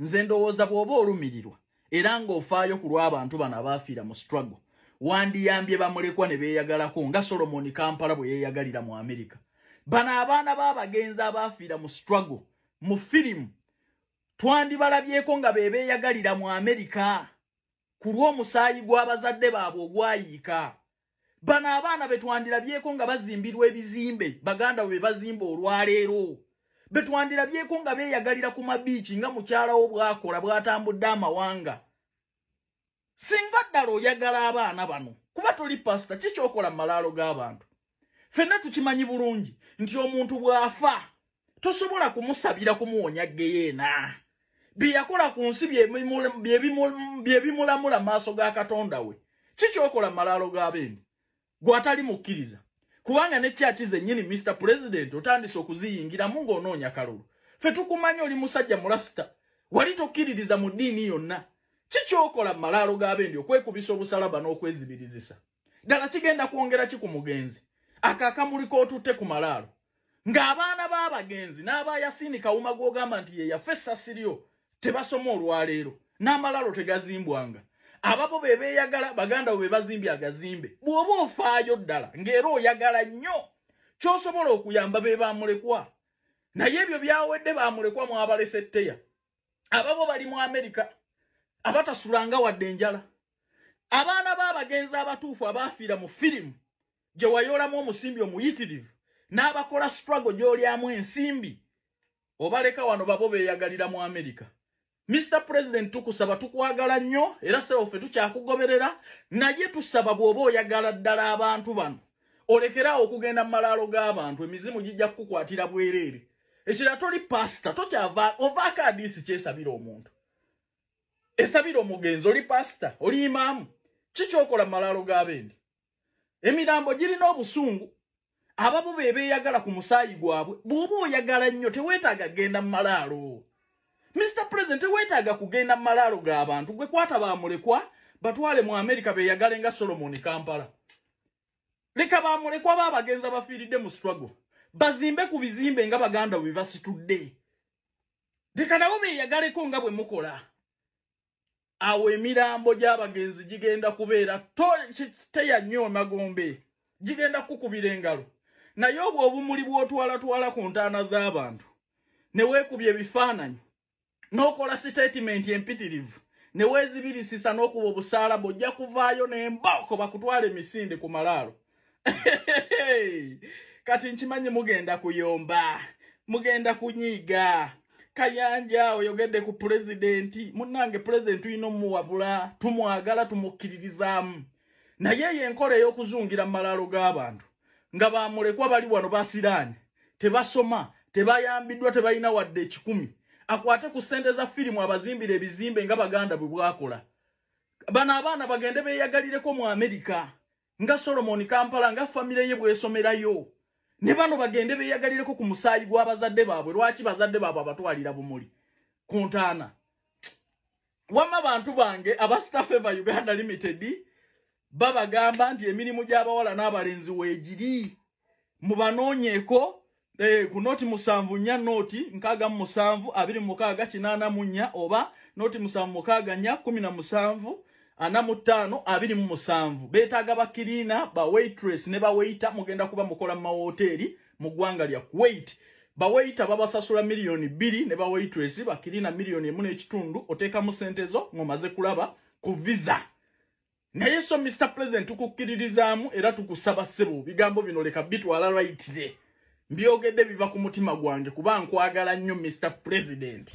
nze ndowooza bw'oba olumirirwa era ng'ofaayo ku lw'abantu bano abaafiira mu struggle wandiyambye bamulekwa ne beeyagalako nga solomoni kampala bwe yeeyagalira mu amerika bano abaana b'abagenzi abaafiira mu struggle mu firimu twandibalabyeko nga be beeyagalira mu amerika ku lw'omusaayi gw'abazadde baabwe ogwayiika bano abaana betwandirabyeko nga bazimbirwa ebizimbe baganda we bazimba olwaleero betwandirabyeko nga beyagalira ku mabiiki nga mukyalawo bwakola bwatambudde amawanga singa ddala oyagala abaana bano kuba toli pasita kikyokola mu malaalo g'abantu fenna tukimanyi bulungi nti omuntu bw'afa tosobola kumusabira kumuwonya geyeena byeyakola ku nsi byebimulamula maaso ga katonda we kikyokola malaalo g'abendi gwatali mukkiriza kubanga ne kyaki zenyini mr president otandise okuziyingiramu ng'onoonya kalulu fe tukumanya oli musajja mulasita wali tokkiririza mu ddiini yonna kikyokola malaalo g'abendi okwekubisa obusalaba n'okwezibirizisa no ddala kigenda kwongera ki ku mugenzi ako akamuli k'otutte ku malaalo ng'abaana b'abagenzi n'aba yasiini kawuma gw'ogamba nti yeyafa essasi lyo tebasoma olwaleero n'amalaalo tegazimbwanga ababo be beeyagala baganda bo be bazimbye agazimbe bw'oba ofaayo ddala ng'era oyagala nnyo ky'osobola okuyamba be baamulekwa naye ebyo byawedde baamulekwa mwabalese tteya ababo bali mu amerika abatasulanga wadde enjala abaana b'abagenzi abatuufu abaafiira mu firimu gye wayoolamu omusimbi omuyitirivu n'abakola struggle gy'olyamu ensimbi obaleka wano babo beeyagalira mu amerika Mr. President tukusaba tukwagala nnyo era sebo ffe tukyakugoberera naye tusaba bw'oba oyagala ddala abantu bano olekerawo okugenda mu malaalo g'abantu emizimu gijja kukukwatira bwereere ekirala toli pasita tokyava ovaako adiisi kyesabira omuntu esabira omugenzi oli pasita oli imaamu kikyokola malaalo g'abendi emirambo girina obusungu abamu be beeyagala ku musaayi gwabwe bw'oba oyagala nnyo teweetaaga kugenda mu malaalo mr president teweetaaga kugenda mu malaalo g'abantu gwe kwata baamulekwa batwale mu amerika beeyagale nga solomoni kampala leka bamulekwa ba abagenzi abafiiridde mu struggle bazimbe ku bizimbe nga baganda bwe basitudde leka nabo beeyagaleko nga bwe mukola awo emirambo gy'abagenzi gigenda kubeera teya nnyo emagombe gigenda kukubira engalo naye obwo obumuli bw'otwalatwala ku ntaana z'abantu ne weekubya ebifaananyi n'okola sitatimenti empitirivu ne weezibirisisa n'okuba obusaala bw'ojja kuvaayo n'embooko bakutwala emisinde ku malaalo kati nkimanyi mugenda kuyomba mugenda kunyiiga kayanja oyogedde ku pulezidenti munnange pulezidenti tulina omuwabula tumwagala tumukkiririzaamu naye eyo enkola ey'okuzungira mu malaalo g'abantu nga bamulekwa bali wano basiraani tebasoma tebayambiddwa tebalina wadde ekikumi akwate ku ssente za firimu abazimbira ebizimbe nga baganda bwe bwakola bano abaana bagende beeyagalireko mu amerika nga solomoni kampala nga famire ye bwesomerayo ne bano bagende beeyagalireko ku musaayi gw'abazadde baabwe lwaki bazadde baabwe abatwalira bumuli ku ntaana wamma bantu bange aba staff eva uganda limited babagamba nti emirimu gy'abawala n'abalenzi weegiri mubanoonyeeko eh, ku nooti musanvu nnya nooti nkaaga mu musanvu abiri mu mukaaga kinaana mu nnya oba nooti musanvu mukaaga nnya kumi na musanvu ana mu ttaano abiri mu musanvu beetaaga bakiriina bawaitress ne bawaita mugenda kuba mukola mu mawooteeri mu ggwanga lya Kuwait. Baweyita babasasula miliyoni bbiri ne baweyitulesi bakirina miliyoni emu n'ekitundu oteekamu ssente zo ng'omaze kulaba ku visa. Naye so Mr. President tukukkiririzaamu era tukusaba ssebo bigambo bino leka bitwala lwayitire. Mbyogedde biva ku mutima gwange kuba nkwagala nnyo Mr. President.